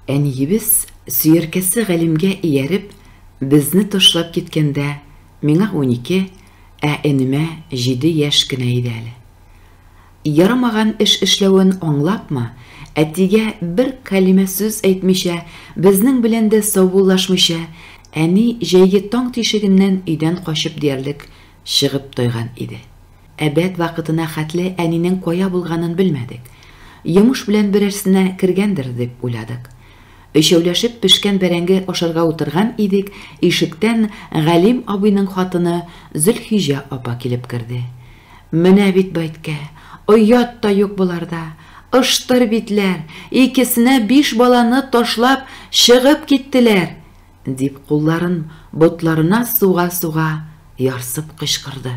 Әниебез, сөяркәсе Галимгә ияреп, безне ташлап киткәндә, миңа унике, ә энемә җиде яшь кенә иде әле. Ярамаган эш эшләвен аңлапмы, әтигә бер кәлимә сүз әйтмичә, безнең белән дә саубуллашмыйча, әни җәйге таң тишегеннән өйдән качып диярлек чыгып тайган иде. Обед вакытына хәтле әнинең кая булганын белмәдек. Йомыш белән берәрсенә кергәндер, дип уйладык. Өчәүләшеп пешкән бәрәңге ашарга утырган идек, ишектән Галим абыйның хатыны Зөлхиҗә апа килеп керде. Менә бит бәйткә! Оят та юк боларда! Ыштыр битләр! Икесенә биш баланы ташлап чыгып киттеләр! Дип кулларын ботларына суга-суга, ярсып кычкырды.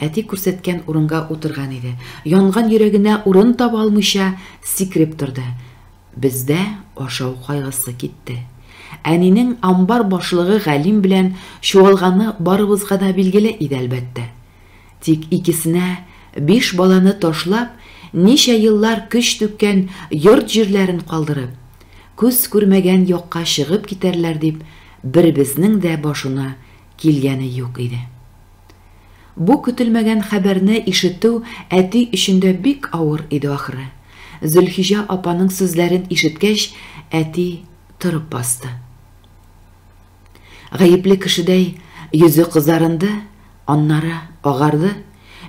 Әти күрсәткән урынга утырган иде. Янган йөрәгенә урын таба алмыйча, сикереп торды. Бездә ашау кайгысы китте. Әнинең амбар башлыгы Галим белән чуалганы барыбызга да билгеле иде, әлбәттә. Тик икесенә биш баланы ташлап, ничә еллар көч түккән йорт-җирләрен калдырып, күз күрмәгән якка чыгып китәрләр дип беребезнең дә башына килгәне юк иде. Бу көтелмәгән хәбәрне ишетү әти өчен дә бик авыр иде ахры. Зөлхиҗә апаның сүзләрен ишеткәч, әти торып басты. Гаепле кешедәй йөзе кызарынды, аннары агарды,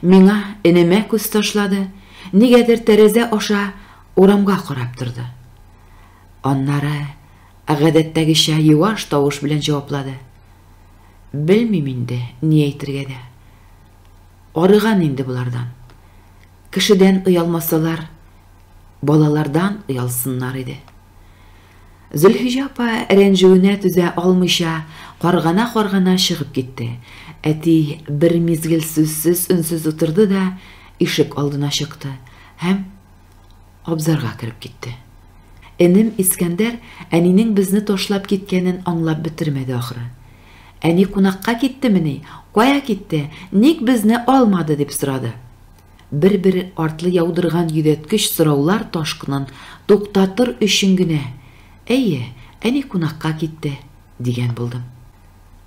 миңа, энемә күз ташлады, нигәдер тәрәзә аша урамга карап торды. Аннары гадәттәгечә юаш тавыш белән җаваплады. Белмим инде, ни әйтергә дә. Арыган инде болардан. Кешедән оялмасалар, Балалардан оялсыннар иде. Зөлхиҗә апа рәнҗүенә түзә алмыйча, каргана-каргана чыгып китте. Әти бер мизгел сүзсез, өнсез утырды да ишек алдына чыкты һәм абзарга кереп китте. Энем Искәндәр әнинең безне ташлап киткәнен аңлап бетермәде ахры. Әни кунакка киттемени, кая китте, ник безне алмады, дип сорады. Бер-бер артлы яудырган йөдәткеч сораулар ташкынын туктатыр өчен генә, Әйе, әни кунакка китте, дигән булдым.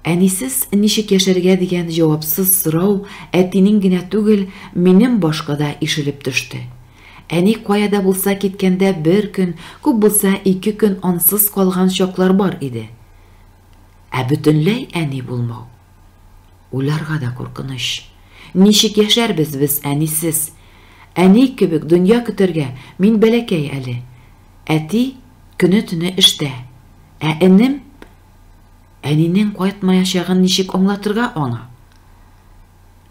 Әнисез ничек яшәргә дигән җавапсыз сорау әтинең генә түгел, минем башка да ишелеп төште. Әни кая да булса киткәндә бер көн, күп булса ике көн ансыз калган чаклар бар иде. Ә бөтенләй әни булмау. Уйларга да куркыныч. Ничек яшәрбез без әнисез? Әни кебек дөнья көтәргә мин бәләкәй әле. Әти көне-төне эштә. Ә энем? Әнинең кайтмаячагын ничек аңлатырга аңа?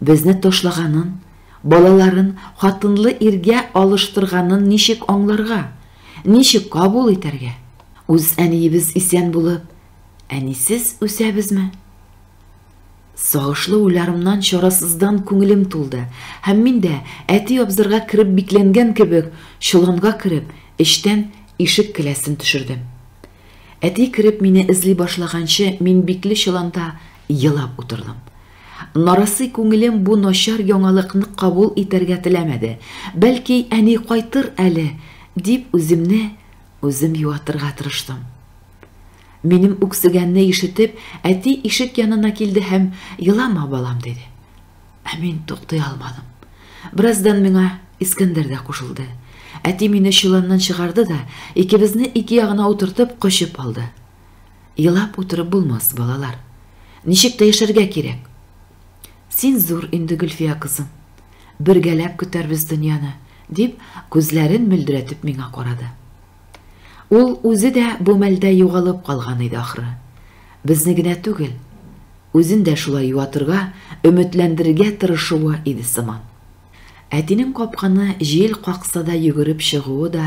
Безне ташлаганын, балаларын хатынлы иргә алыштырганын ничек аңларга? Ничек кабул итәргә? Үз әниебез исән булып, әнисез үсәбезме? Сагышлы уйларымнан чарасыздан күңелем тулды, һәм мин дә, әти абзарга кереп бикләнгән кебек, чоланга кереп, эчтән ишек келәсен төшердем. Әти кереп мине эзли башлаганчы, мин бикле чоланда елап утырдым. Нарасый күңелем бу начар яңалыкны кабул итәргә теләмәде. Бәлки, әни кайтыр әле, дип үземне үзем юатырга тырыштым. Минем үксегәнне ишетеп, әти ишек янына килде һәм, Елама, балам, диде. Ә мин туктый алмадым. Бераздан миңа Искәндәр дә кушылды. Әти мине чоланнан чыгарды да, икебезне ике ягына утыртып, кочып алды. Елап утырып булмас, балалар. Ничек тә яшәргә кирәк. Син зур инде, Гөлфия кызым. Бергәләп көтәрбез дөньяны, дип, күзләрен мөлдерәтеп миңа карады. Ул үзе дә бу мәлдә югалып калган иде ахры. Безне генә түгел, үзен дә шулай юатырга, өметләндерергә тырышуы иде сыман. Әтинең капканы җил какса да йөгереп чыгуы да,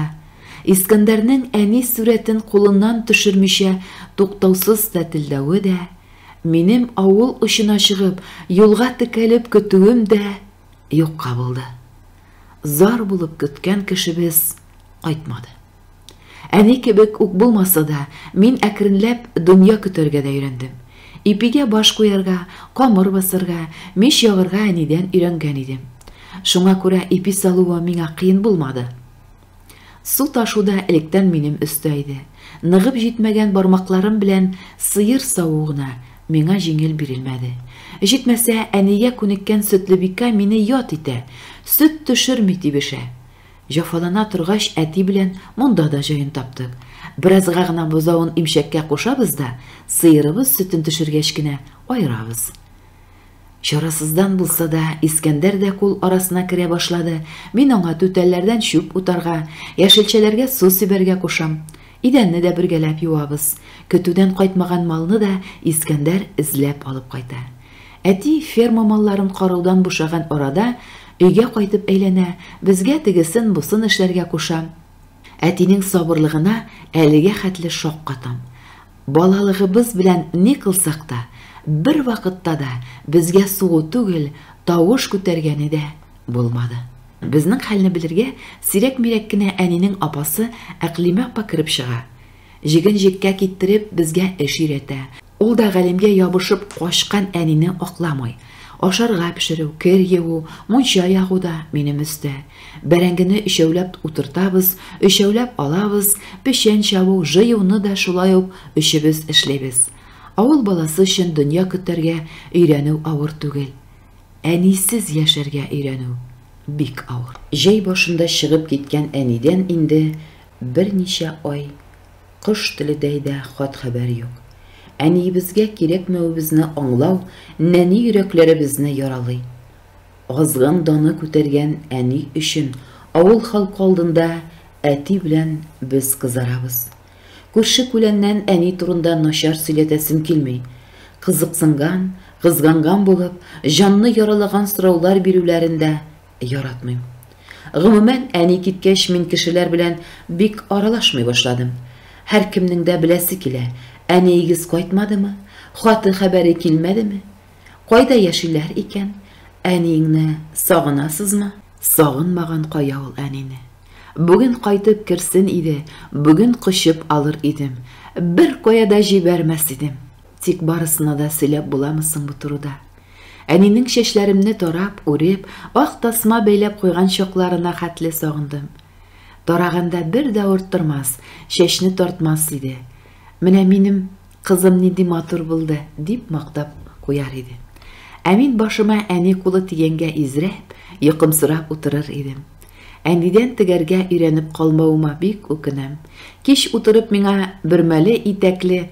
Искәндәрнең әни сурәтен кулыннан төшермичә туктаусыз тәтелдәве дә, минем авыл очына чыгып, юлга текәлеп көтүем дә, юкка булды. Зар булып көткән кешебез кайтмады. Әни кебек үк булмаса да, мин әкренләп дөнья көтәргә дә өйрәндем. Ипигә баш куярга, камыр басарга, мич ягырга әнидән өйрәнгән идем. Шуңа күрә ипи салуы миңа кыен булмады. Су ташу да электән минем өстә иде. Ныгып җитмәгән бармакларым белән сыер саву гына миңа җиңел бирелмәде. Җитмәсә, әнигә күнеккән Сөтлебикә мине ят итә, сөт төшерми тибешә. Җафалана торгач, әти белән монда да җаен таптык. Беразга гына бозавын имчәккә кушабыз да, сыерыбыз сөтен төшергәч кенә аерабыз. Чарасыздан булса да, Искәндәр дә кул арасына керә башлады. Мин аңа түтәлләрдән чүп утарга, яшелчәләргә су сибәргә кушам. Идәнне дә бергәләп юабыз. Көтүдән кайтмаган малны да Искәндәр эзләп алып кайта. Әти ферма малларын караудан бушаган арада, өйгә кайтып әйләнә, безгә тегесен-бусын эшләргә куша. Әтинең сабырлыгына әлегә хәтле шаккатам. Балалыгыбыз белән ни кылсак та, бервакытта да безгә сугу түгел, тавыш күтәргәне дә булмады. Безнең хәлне белергә сирәк-мирәк кенә әнинең апасы Әкълимә апа кереп чыга. Җеген җеккә киттереп, безгә эш өйрәтә. Ул да Галимгә ябышып качкан әнине акламый. Ашарга пешерү, кер юу, мунча ягу да минем өстә. Бәрәңгене өчәүләп утыртабыз, өчәүләп алабыз, печән чабу, жыюны да шулай ук өчебез эшлибез. Авыл баласы өчен дөнья көтәргә өйрәнү авыр түгел. Әнисез яшәргә өйрәнү бик авыр. Җәй башында чыгып киткән әнидән инде берничә ай Кош теледәй дә хат-хәбәр юк. Әниебезгә кирәкмәвебезне аңлау нәни йөрәкләребезне яралый. Азгын даны күтәргән әни өчен авыл халкы алдында әти белән без кызарабыз. Күрше-күләннән әни турында начар сөйләтәсем килми. Кызыксынган, кызганган булып, җанны яралаган сораулар бирүләрен дә Яратмыйм. Гомумән, әни киткәч, мин кешеләр белән бик аралашмый башладым. Һәркемнең дә беләсе килә, әниегез кайтмадымы, хаты хәбәре килмәдеме? Кайда яшиләр икән? Әниеңне сагынасызмы? Сагынмаган кая ул әнине. Бүген кайтып керсен иде, бүген кочып алыр идем, беркая да җибәрмәс идем. Тик барысына да сөйләп буламы соң бу турыда? Әнинең чәчләремне тарап, үреп, ак тасма бәйләп куйган чакларына хәтле сагындым. Тараганда бер дә орттырмас, чәчне тартмас иде. Менә минем кызым нинди матур булды, дип мактап куяр иде. Ә мин башыма әни кулы тигәнгә изрәп, йокымсырап утырыр идем. Әнидән тегәргә өйрәнеп калмавыма бик үкенәм. Кич утырып миңа бөрмәле итәкле,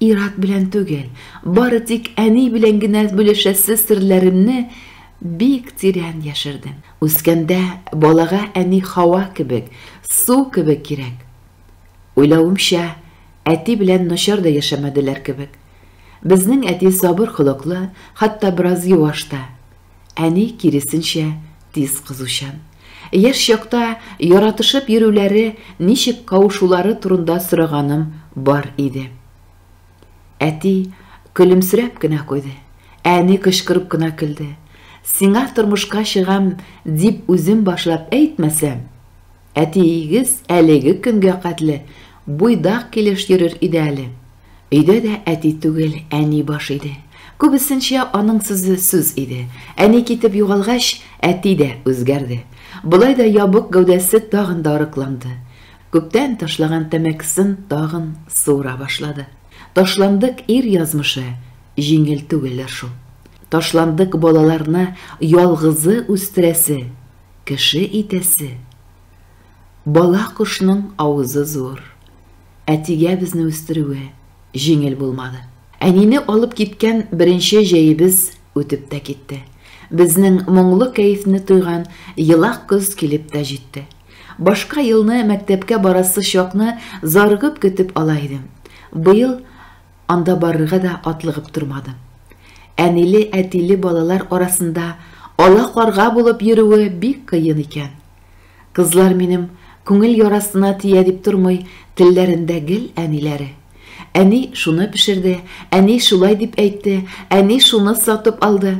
Ир-ат белән түгел, бары тик әни белән генә бүлешәсе серләремне бик тирән яшердем. Үскәндә балага әни һава кебек, су кебек кирәк. Уйлавымча, әти белән начар да яшәмәделәр кебек. Безнең әти сабыр холыклы, хәтта бераз юаш та. Әни, киресенчә, тиз кызучан. Яшь чакта яратышып йөрүләре, ничек кавышулары турында сораганым бар иде. Әти көлемсерәп кенә куйды. Әни кычкырып кына көлде. Сиңа тормышка чыгам дип үзем башлап әйтмәсәм, Әтиегез әлеге көнгә кадле буйдак килеш йөрер иде әле. Өйдә дә әти түгел, әни баш иде. Күбесенчә аның сүзе сүз иде. Әни китеп югалгач, әти дә үзгәрде. Болай да ябык гәүдәсе тагын да арыкланды. Күптән ташлаган тәмәкесен тагын суыра башлады. Ташландык ир язмышы җиңел түгелдер шул. Ташландык балаларны ялгызы үстерәсе кеше итәсе. Бала кошның авызы зур. Әтигә безне үстерүе җиңел булмады. Әнине алып киткән беренче җәебез үтеп тә китте. Безнең моңлы кәефне тойган елак көз килеп тә җитте. Башка елны мәктәпкә барасы чакны зарыгып көтеп ала идем. Быел Анда барырга да атлыгып тормадым. Әниле-әтиле балалар арасында ала-карга булып йөрүе бик кыен икән. Кызлар минем күңел ярасына тия дип тормый, телләрендә гел әниләре. Әни шуны пешерде, әни шулай дип әйтте, әни шуны сатып алды.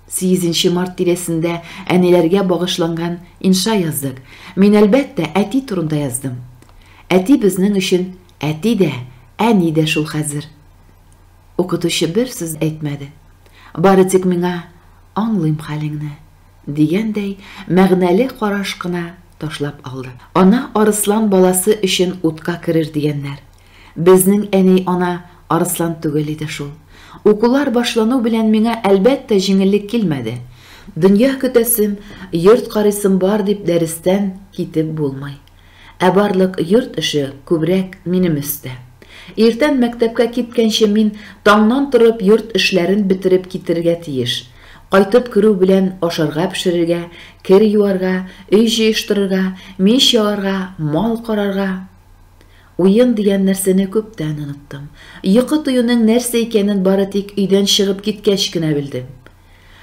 Сигезенче март тирәсендә әниләргә багышланган инша яздык. Мин, әлбәттә, әти турында яздым. Әти безнең өчен Әти дә, әни дә шул хәзер. Укытучы бер сүз әйтмәде. Бары тик миңа, Аңлыйм хәлеңне, дигәндәй, мәгънәле караш кына ташлап алды. Ана арыслан баласы өчен утка керер дигәннәр. Безнең әни ана арыслан түгел иде шул. Укулар башлану белән миңа, әлбәттә, җиңеллек килмәде. Дөнья көтәсем, йорт карыйсым бар дип дәрестән китеп булмый. Ә барлык йорт эше күбрәк минем өстә. Иртән мәктәпкә киткәнче мин таңнан торып йорт эшләрен бетереп китерергә тиеш. Кайтып керү белән ашарга пешерергә, кер юарга, өй җыештырырга, мич ягарга, мал карарга. Уен дигән нәрсәне күптән оныттым. Йокы туюның нәрсә икәнен бары тик өйдән чыгып киткәч кенә белдем.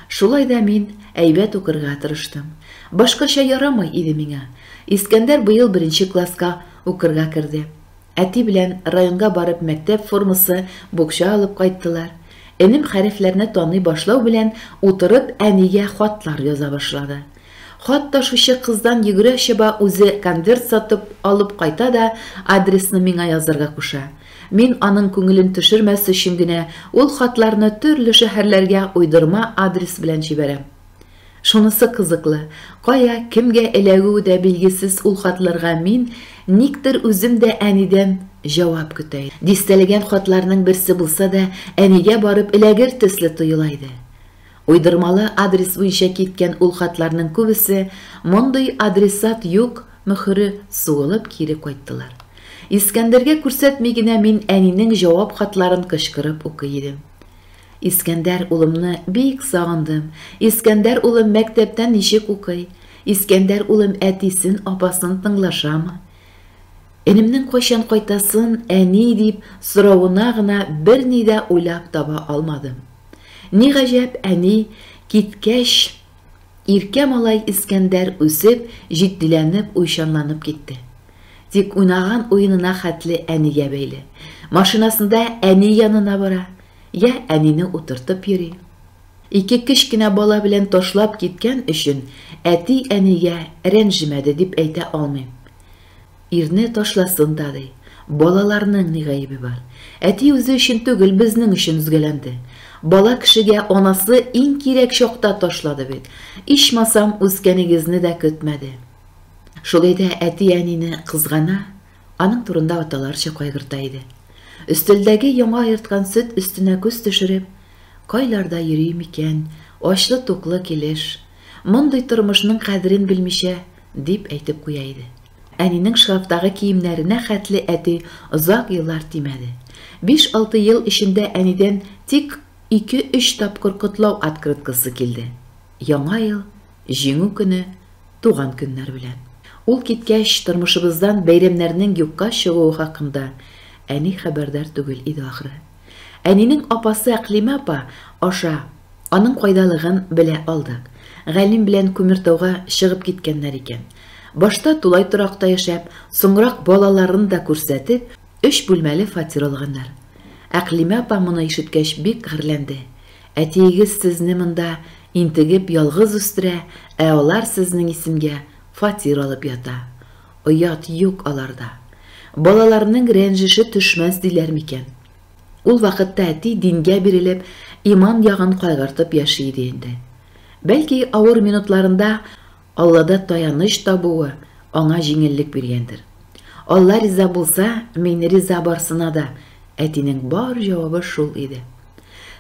Шулай да мин әйбәт укырга тырыштым. Башкача ярамый иде миңа. Искәндәр быел беренче класска укырга керде. Әти белән районга барып мәктәп формасы, букча алып кайттылар. Энем хәрефләрне таный башлау белән утырып әнигә хатлар яза башлады. Хат ташучы кыздан йөгерә-чаба үзе конверт сатып алып кайта да адресны миңа язарга куша. Мин аның күңелен төшермәс өчен генә ул хатларны төрле шәһәрләргә уйдырма адрес белән җибәрәм. Шунысы кызыклы, кая, кемгә эләгүе дә билгесез ул хатларга мин никтер үзем дә әнидән җавап көтә идем. Дистәләгән хатларның берсе булса да әнигә барып эләгер төсле тоела иде. Уйдырмалы адрес буенча киткән ул хатларның күбесе мондый адресат юк мөхөре суылып кире кайттылар. Искәндәргә күрсәтми генә мин әнинең җавап хатларын кычкырып укый идем. Искәндәр улымны бик сагындым. Искәндәр улым мәктәптә ничек укый? Искәндәр улым әтисен, апасын тыңлашамы? Энемнең кайчан кайтасын, әни, дип соравына гына берни дә уйлап таба алмадым. Ни гаҗәп, әни киткәч, иркә малай Искәндәр үсеп, җитдиләнеп, уйчанланып китте. Тик уйнаган уенына хәтле әнигә бәйле. Машинасында әни янына бара, йә әнине утыртып йөри. Ике кечкенә бала белән ташлап киткән өчен әти-әнигә рәнҗемәде дип әйтә алмыйм. Ирне ташласын да ди. Балаларның ни гаебе бар? Әти үзе өчен түгел, безнең өчен өзгәләнде. Бала кешегә анасы иң кирәк чакта ташлады бит. Ичмасам, үскәнегезне дә көтмәде. Шулай да әти-әнине кызгана, аның турында аталарча кайгырта иде. Өстәлдәге яңа аерткан сөт өстенә күз төшереп, Кайларда йөри микән ачлы-туклы килеш? Мондый тормышның кадерен белмичә, Дип әйтеп куя иде. Әнинең шкафтагы киемнәренә хәтле әти озак еллар тимәде. Биш-алты ел эчендә әнидән тик ике-өч тапкыр котлау открыткасы килде. Яңа ел, Җиңү көне, туган көннәр белән. Ул киткәч, тормышыбыздан бәйрәмнәрнең юкка чыгуы хакында әни хәбәрдар түгел иде ахры. Әнинең апасы Әкълимә апа аша аның кайдалыгын белә алдык. Галим белән Күмертауга чыгып киткәннәр икән. Башта тулай торакта яшәп, соңрак балаларын да күрсәтеп, өч бүлмәле фатир алганнар. Әкълимә апа моны ишеткәч бик гарьләнде. Әтиегез сезне монда интегеп ялгыз үстерә, ә алар сезнең исемгә фатир алып ята. Оят юк аларда. Балаларның рәнҗеше төшмәс диләр микән? Ул вакытта әти дингә бирелеп, иман ягын кайгыртып яши иде инде. Бәлки, авыр минутларында Аллада таяныч табуы аңа җиңеллек биргәндер. Алла риза булса, мин риза барсына да, әтинең бар җавабы шул иде.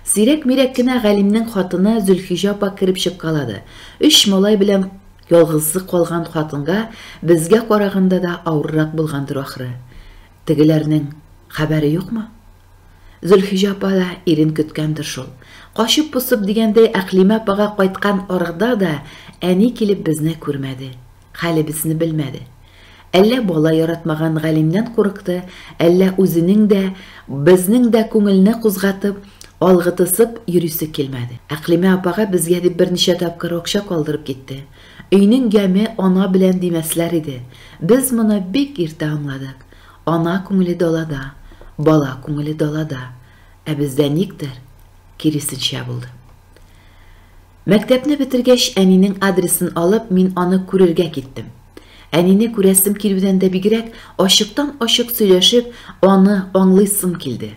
Сирәк-мирәк кенә галимнең хатыны Зөлхиҗә апа кереп чыккалады. Өч малай белән Ялгызы калган хатынга безгә караганда да авыррак булгандыр ахры. Тегеләрнең хәбәре юкмы? Зөлхиҗә апа да ирен көткәндер шул. Качып-посып дигәндәй Әкълимә апага кайткан арада да әни килеп безне күрмәде, хәлебезне белмәде. Әллә бала яратмаган галимнән курыкты, әллә үзенең дә, безнең дә күңелне кузгатып, алгытысып йөрисе килмәде. Әкълимә апага безгә дип берничә тапкыр акча калдырып китте. Өйнең яме ана белән димәсләр иде. Без моны бик иртә аңладык. Ана күңеле далада, бала күңеле далада. Ә бездә никтер киресенчә булды. Мәктәпне бетергәч, әнинең адресын алып, мин аны күрергә киттем. Әнине күрәсем килүдән дә бигрәк, ачыктан-ачык сөйләшеп, аны аңлыйсым килде.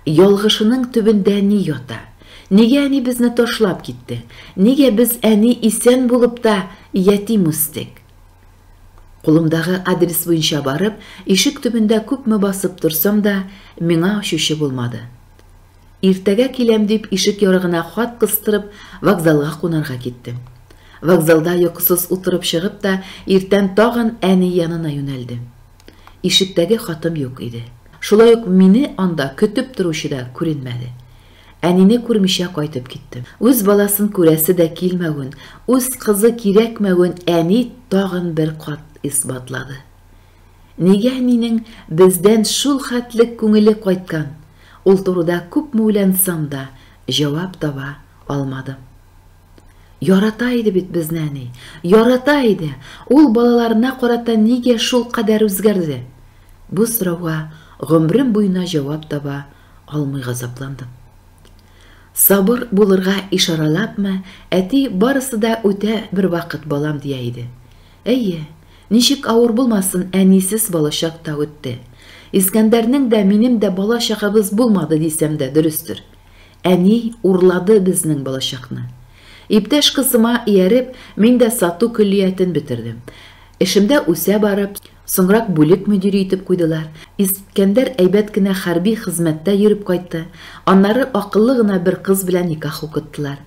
Ялгышының төбендә ни ята? Нигә әни безне ташлап китте? Нигә без әни исән булып та ятим үстек? Кулымдагы адрес буенча барып, ишек төбендә күпме басып торсам да, миңа ачучы булмады. Иртәгә киләм дип ишек ярыгына хат кыстырып, вокзалга кунарга киттем. Вокзалда йокысыз утырып чыгып та, иртән тагын әни янына юнәлдем. Ишектәге хатым юк иде. Шулай ук мине анда көтеп торучы да күренмәде. Әнине күрмичә кайтып киттем. Үз баласын күрәсе дә килмәвен, үз кызы кирәкмәвен әни тагын бер кат исбатлады. Нигә әнинең бездән шул хәтлек күңеле кайткан, ул турыда күпме уйлансам да, җавап таба алмадым. Ярата иде бит безне әни, ярата иде, ул балаларына карата нигә шул кадәр үзгәрде? Бу сорауга гомрем буена җавап таба алмый газапландым. Сабыр булырга ишаралапмы, әти барысы да үтә бервакыт балам дия иде. Әйе, ничек авыр булмасын, әнисез балачак та үтте. Искәндәрнең дә, минем дә бала чагыбыз булмады дисәм дә дөрестер. Әни урлады безнең балачакны. Иптәш кызыма ияреп, мин дә сату көллиятен бетердем. Эшемдә үсә барып, соңрак бүлек мөдире итеп куйдылар. Искәндәр әйбәт кенә хәрби хезмәттә йөреп кайтты. Аннары акыллы гына бер кыз белән никах укыттылар.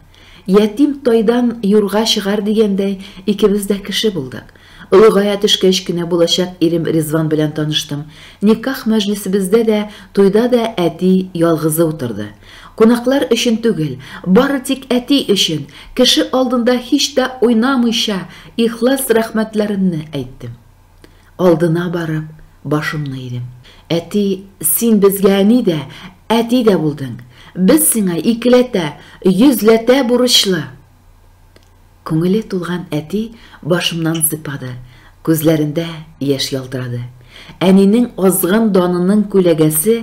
Ятим тайдан юрга чыгар дигәндәй, икебез дә кеше булдык. Олыгая төшкәч кенә булачак ирем Ризван белән таныштым. Никах мәҗлесебездә дә, туйда да әти ялгызы утырды. Кунаклар өчен түгел, бары тик әти өчен, кеше алдында һич тә уйнамыйча, ихлас рәхмәтләремне әйттем. Алдына барып, башымны идем. Әти, син безгә әни дә, әти дә булдың. Без сиңа икеләтә, йөзләтә бурычлы. Күңеле тулган әти башымнан сыйпады, күзләрендә яшь ялтырады. Әнинең азгын данының күләгәсе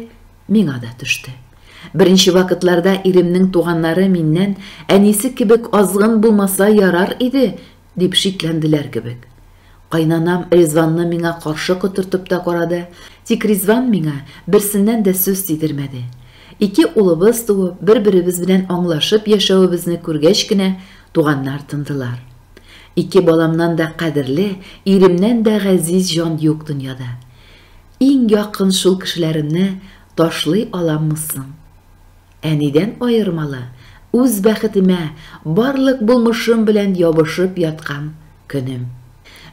миңа да төште. Беренче вакытларда иремнең туганнары миннән әнисе кебек азгын булмаса ярар иде, Дип шикләнделәр кебек. Кайнанам Ризванны миңа каршы котыртып та карады, тик Ризван миңа берсеннән дә сүз тидермәде. Ике улыбыз туып, бер-беребез белән аңлашып яшәвебезне күргәч кенә, туганнар тындылар. Ике баламнан да кадерле, иремнән дә газиз җан юк дөньяда. Иң якын шул кешеләремне ташлый аламмы соң? Әнидән аермалы, үз бәхетемә барлык булмышым белән ябышып яткан көнем.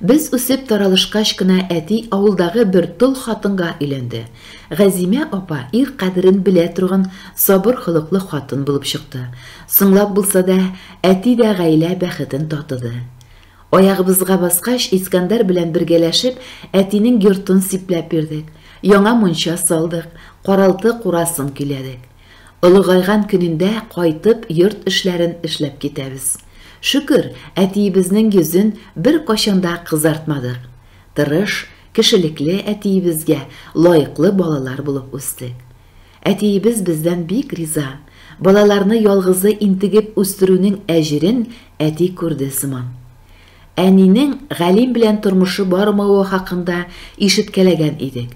Без үсеп таралышкач кына әти авылдагы бер тол хатынга өйләнде. Газимә апа ир кадерен белә торган сабыр холыклы хатын булып чыкты. Соңлап булса да, әти дә гаилә бәхетен татыды. Аягыбызга баскач, Искәндәр белән бергәләшеп, әтинең йортын сипләп бирдек. Яңа мунча салдык, каралты курасын көйләдек. Олыгайган көнендә кайтып, йорт эшләрен эшләп китәбез. Шөкер, әтиебезнең йөзен беркайчан да кызартмадык. Тырыш, кешелекле әтиебезгә лаеклы балалар булып үстек. Әтиебез бездән бик риза, балаларны ялгызы интегеп үстерүнең әҗерен әти күрде сыман. Әнинең Галим белән тормышы бармавы хакында ишеткәләгән идек.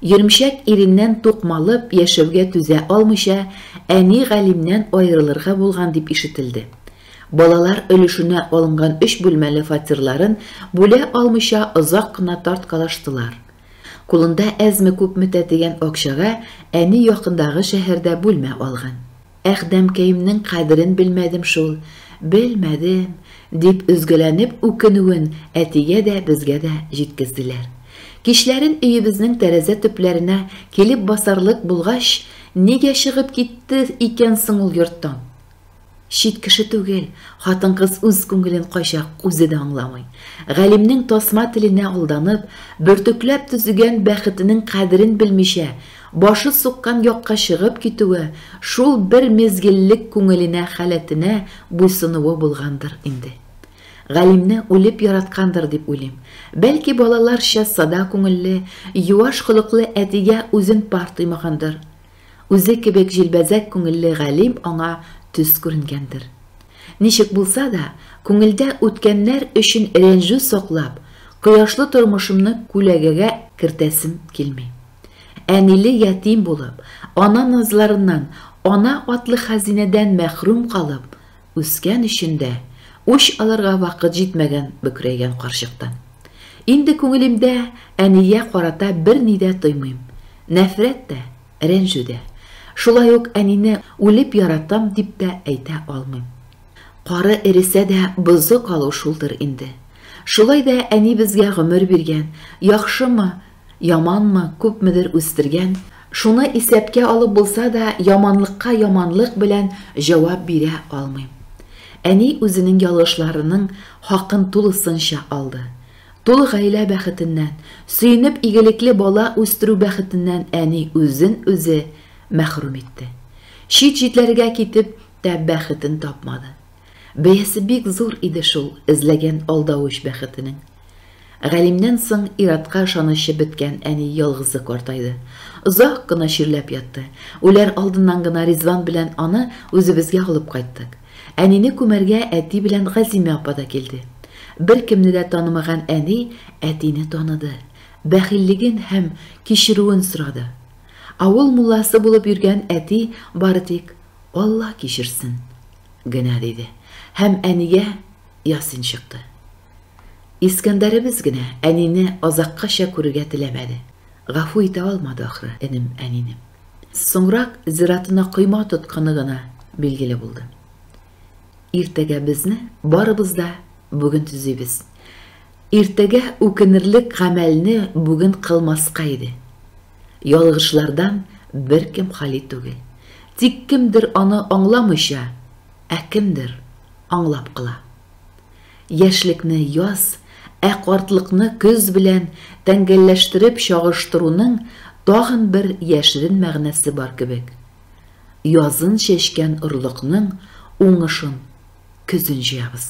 Йөрмчәк иреннән тукмалып яшәүгә түзә алмыйча, әни Галимнән аерылырга булган дип ишетелде. Балалар өлешенә алынган өч бүлмәле фатирларын бүлә алмыйча озак кына тарткалаштылар. Кулында әзме-күпме тәтегән акчага әни якындагы шәһәрдә бүлмә алган. Әхдәмкәемнең кадерен белмәдем шул, белмәдем, дип өзгәләнеп үкенүен әтигә дә, безгә дә җиткезделәр. Кичләрен өебезнең тәрәзә төпләренә килеп басарлык булгач, Нигә чыгып китте икән соң ул йорттан? Чит кеше түгел, хатын-кыз үз күңелен кайчак үзе дә аңламый. Галимнең тасма теленә алданып, бөртекләп төзегән бәхетенең кадерен белмичә, башы суккан якка чыгып китүе шул бер мизгеллек күңеленә халәтенә буйсынуы булгандыр инде. Галимне үлеп яраткандыр дип уйлыйм. Бәлки балаларча сада күңелле, юаш холыклы әтигә үзен пар тоймагандыр. Үзе кебек җилбәзәк күңелле галим аңа төз күренгәндер. Ничек булса да, күңелдә үткәннәр өчен рәнҗү саклап, кояшлы тормышымны күләгәгә кертәсем килми. Әниле ятим булып, ана назларыннан, ана атлы хәзинәдән мәхрүм калып, Үскән өчен дә, үч алырга вакыт җитмәгән бөкрәйгән карчыктан. Инде күңелемдә әнигә карата берни дә тоймыйм. Нәфрәт тә, рәнҗү дә. Шулай ук әнине үлеп яратам дип тә әйтә алмыйм. Кары эресә дә бозы калу шулдыр инде. Шулай да әни безгә гомер биргән, яхшымы, Яманмы, күпмедер үстергән, шуны исәпкә алып булса да, яманлыкка яманлык белән җавап бирә алмыйм. Әни үзенең ялгышларының хакын тулысынча алды. Тулы гаилә бәхетеннән, сөенеп игелекле бала үстерү бәхетеннән әни үзен үзе мәхрүм итте. Чит җитләргә китеп тә бәхетен тапмады. Бәясе бик зур иде шул эзләгән алдавыч бәхетенең. Галимнән соң ир-атка ышанычы беткән әни ялгызы картайды. Озак кына чирләп ятты. Үләр алдыннан гына Ризван белән аны үзебезгә алып кайттык. Әнине күмәргә әти белән Газимә апа да килде. Беркемне дә танымаган әни әтине таныды, бәхиллеген һәм кичерүен сорады. Авыл мулласы булып йөргән әти бары тик, Алла кичерсен, Генә диде һәм әнигә ясин чыкты. Искәндәребез генә әнине азаккача күрергә теләмәде. Гафу итә алмады, ахры, энем әнине. Соңрак зиратына койма тотканы гына билгеле булды. Иртәгә безне барыбыз да бүген төзибез. Иртәгә үкенерлек гамәлне бүген кылмаска иде. Ялгышлардан беркем хали түгел. Тик кемдер аны аңламыйча, ә кемдер аңлап кыла. Яшьлекне яз, ә картлыкны көз белән тәңгәлләштереп чагыштыруның тагын бер яшерен мәгънәсе бар кебек. Язын чәчкән орлыкның уңышын көзен җыябыз.